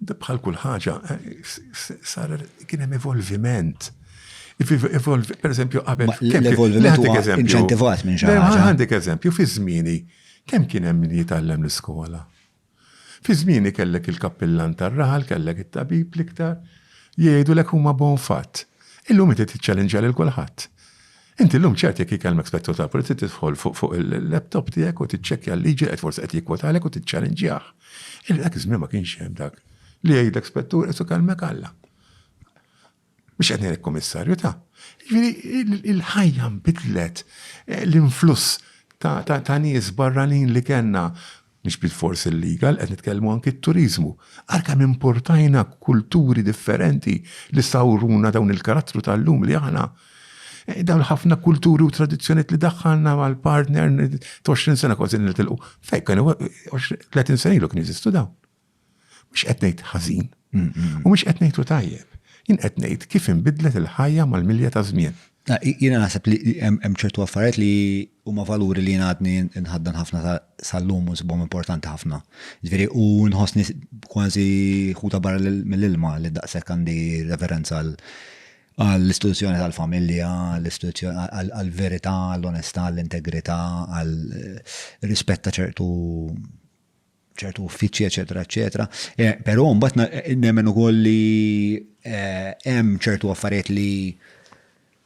Bħal kull ħaġa, sar kien hemm evolviment. Per eżempju, qabel. L-evolviment huwa inċentivat minn xi ħaġa. Għandek eżempju, fi żmieni, kemm kien hemm li jitgħallem l-iskola? Fi żmieni kellek il-kappillan tar-raħal, kellek it-tabib l-iktar, jgħidulek huma bon fatt. Illum inti tiċċallenġja lil kulħadd. Inti llum ċert jekk jikellmek spettur tal-pulizija tidħol fuq il-laptop tiegħek u tiċċekkja l-liġi qed forsi qed jikkwotalek u tiċċalenġjah. Illi dak iż-żmien ma kienx hemm dak li jgħidlek spettur qed ikellmek Alla. Biex qed ngħidlek kummissarju ta'. Jiġifieri il-ħajja nbidlet eh, l-influss ta' nies barranin li kellna Mhix bilfors illegal, qed nitkellmu anki t-turiżmu. Ara kemm importajna kulturi differenti li sawruna dawn il-karattru tal-lum li aħna dawn ħafna kulturi u tradizzjonijiet li daħħalna mal-partner 20 sena kważi nitilqu. Fejn kienu 30 sena ilu kien jeżistu dawn. Mhux qed ngħid ħażin, u mhux qed ngħidu tajjeb. Jien qed ngħid kif inbidlet il-ħajja mal-milja ta' żmien. Jiena naħseb li hemm ċertu affarijiet li huma valuri li jien għadni nħaddan ħafna sal-lum u nsibhom importanti ħafna. Ġifieri u nħossni kważi ħuta barra mill-ilma li daqshekk għandi referenza għal għall-istituzzjoni tal-familja, għall-verità, għall-onestà, għall-integrità, għall-rispett ta' ċertu ċertu uffiċċji, eċetera, eċetera. Eh, però mbagħad nemmen ukoll li eh, hemm ċertu affarijiet li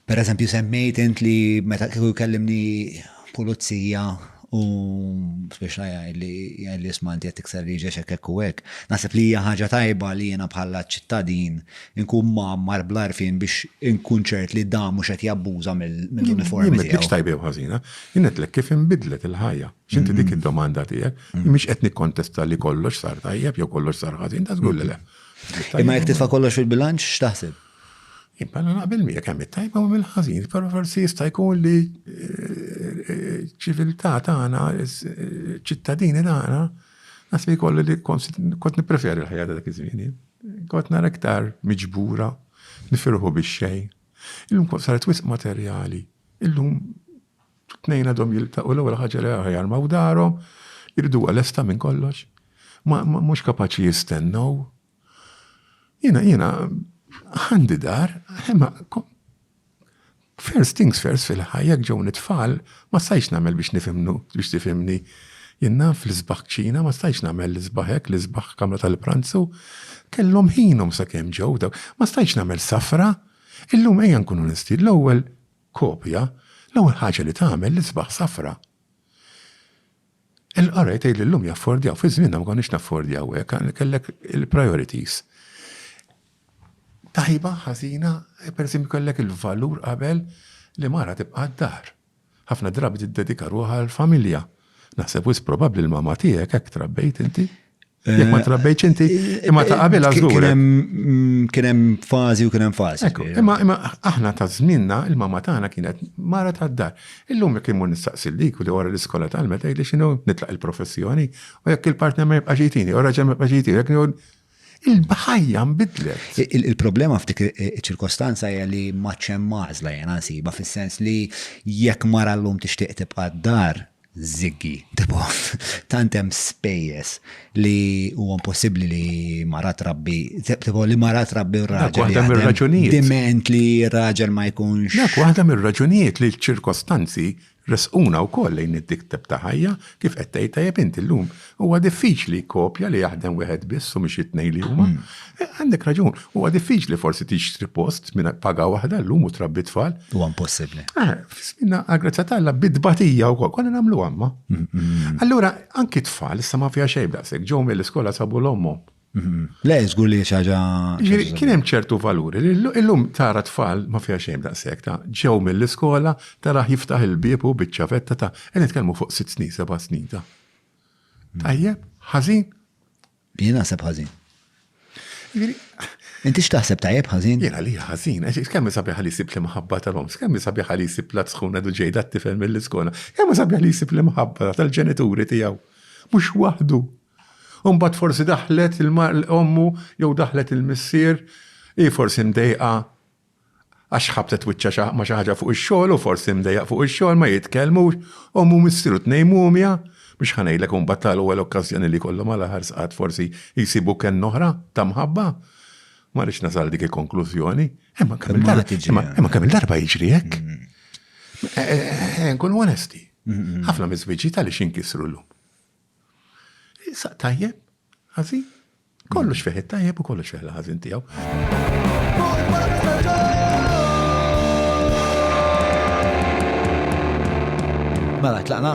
per eżempju semmejt int li meta kieku jkellimni pulizija u biex li li ismanti qed tikser li ġex hekk u hekk. Naħseb li hija ħaġa tajba li jiena bħala ċittadin inkun mar bl-arfin biex inkun ċert li da mhux qed jabbuża mill-uniformi. Mhix tajba ħażina, jinetlek kif inbidlet il-ħajja. X'inti dik id-domanda tiegħek, mhix qed nikkontesta li kollox sar tajjeb jew kollox sar ħażin, ta' żgur li le. Imma jekk titfa' kollox fil-bilanċ x'taħseb? Imma na naqbel miegħek hemm it-tajba u hemm il-ħażin, però forsi jista' jkun li eh, ċiviltà tagħna, eh, ċittadini tagħna, nasbi kollu li kont nippreferi l-ħajja ta' dak iż-żmien. Kont nara iktar miġbura, nifirħu bix-xejn. Illum kont saret wisq materjali. Illum T-tnejn għadhom jiltaqgħu l-ewwel ħaġa li ħajarmaw darhom, iriduha lesta minn kollox. Ma mhux kapaċi jistennew. Jiena jiena għandi dar, imma first things first fil-ħajja jekk ġewni tfal ma stajtx nagħmel biex nifhimnu biex tifhimni. Jien naf l-isbaħ kċina ma stajtx nagħmel l-isbaħ hekk, l-isbaħ kamra tal-pranzu. Kellhom ħinhom sakemm ġew dawk. Ma stajtx nagħmel safra. Illum ejja nkunu onesti, l-ewwel kopja, l-ewwel ħaġa li tagħmel l-isbaħ safra. Il-qari tgħid li llum jaffordjaw, fi żmienna ma konniex naffordjaw hekk, kellek il-priorities. Tajba, ħażina, pereżempju kellek il-valur qabel li mara tibqa' d-dar. Ħafna drabi tiddedika ruħha għall-familja. Naħseb wisq probabbli l-mama tiegħek hekk trabbejt inti. Jek ma eh, trabbejċ inti, eh, imma ta' qabel għazdur. Mm, kien hemm fażi u kien hemm fażi. Imma imma aħna ta' żminna il-mama tagħna kienet mara ta' dar. Illum jekk imur nistaqsil dik u li wara l-iskola tal-meta mela jgħidli x'inhu nitlaq il-professjoni u jekk il-partner ma jibqax jitini, u raġel ma jibqax jitini, il-bħajja nbidlet. Il-problema f'dik ċirkostanza hija li maċċem mażla jena nsiba fis-sens li jekk mara llum tixtieq tibqa' d-dar Żiggy, Debogħ, tant hemm spejjeż li huwa impossibbli li mara trabbi, debogħ li mara trabbi u raġel. Dak waħda mir-raġunijiet. Diment li raġel ma jkunx. Dak waħda mir-raġunijiet li ċ-ċirkostanzi resquna wkoll lejn id-dikteb ta' ħajja kif qed tgħid tajjeb inti llum Huwa diffiċli kopja li jaħdem wieħed biss u mhix it-tnejn li huma. Hmm. Eh, għandek raġun, huwa diffiċli forsi tixtri post minn paga waħda llum u trabbi tfal. Huwa impossibbli. Eh, Fisminna għal-grazza tagħna bidbatija wkoll konna nagħmlu għamma. Hmm, hmm, Allura anki tfal issa ma fiha xejn daqshekk ġew mill-iskola sabu l-ommhom. Le, żgur li xaġa. Kien hemm ċertu valuri. Illum tara tfal ma fiha xejn daqshekk ta' ġew mill-iskola tara jiftaħ il-bieb u biċċa vetta ta' qed nitkellmu fuq sitt snin, seba' snin ta' Tajjeb, ħażin? Jien naħseb ħażin. Inti x'taħseb tajjeb ħażin? Jiena li ħażin, għax kemm sabiħ li jsib li mħabba tal-oms, kemm sabiħ li jsib la tkun għadu ġejda t-tifel mill-iskola, kemm sabiħ li jsib li mħabba tal-ġenituri tiegħu. Mhux waħdu. Umbat forsi daħlet il-ommu jew daħlet il-missier, i forsi mdejqa għax ħabtet wiċċha ma' xi ħaġa fuq ix-xogħol u forsi mdejjaq fuq ix-xogħol ma jitkellmux, omm u missier u tnejn mumja, mhux ħa ngħidlek imbagħad tal-ewwel okkażjoni li jkollhom għal aħħar sqat forsi jsibu kenna oħra ta' mħabba. Ma rridx nasal dik il-konklużjoni. Imma kemm il-darba jiġri hekk. Nkunu onesti. Ħafna miż-żwieġijiet għaliex jinkisru llum. Saq tajjeb, ħażin. Kollox fih it-tajjeb u kollox fih l-ħażin tiegħu. Mela, tlaqna?